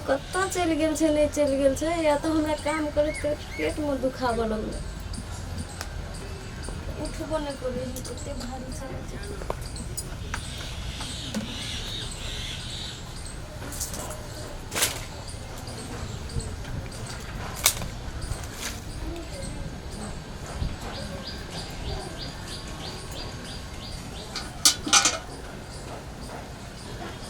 कतय चलि गेल छै नहि चलि गेल छै या तऽ हमरा काम करैत करैत पेटमे दुखाबऽ लगलै उठबो नहि करै छै एते भारी छै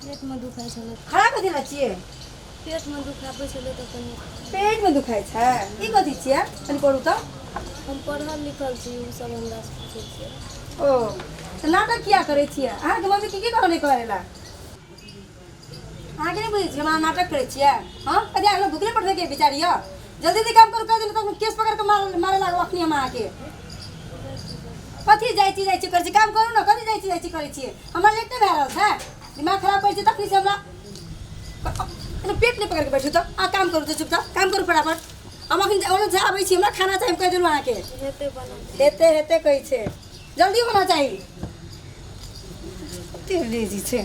पेटमे दुखाइ छलै खड़ा कथी लए छियै पेटमे दुखाइ बैसल तऽ कनि पेटमे दुखाइ छै ई कथी छियै कनि करू तऽ हम पढ़ल लिखल छी ओ सब हमरा से पूछै छियै ओ तऽ नाटक किया करै छियै अहाँके मम्मी की की कहने कहै लए अहाँके नहि बुझै छियै हमरा नाटक करै छियै हँ कथी अहाँ भुखले पठबैके विचार यऽ जल्दी जल्दी काम करू कहि देलहुँ तऽ केस पकड़ कऽ मार- मारे लागब अखनी हम अहाँके कथी जाइ छी जाइ छी करै छी काम करू ने कथी जाइ छी जाइ छी करै छियै हमरा लेट नहि भए रहल छै दिमाग खराब करै छै तखनी से हमरा एना पेट नहि पकड़ि कऽ बैठू तऽ आ काम करू तऽ चुपचाप काम करू फटाफट हम अखन ओने से आबै छी हमरा खाना चाही हम कहि देलहुँ अहाँके हेतै बनल हेते हेते कहै छै जल्दी होना चाही एते लेजी छै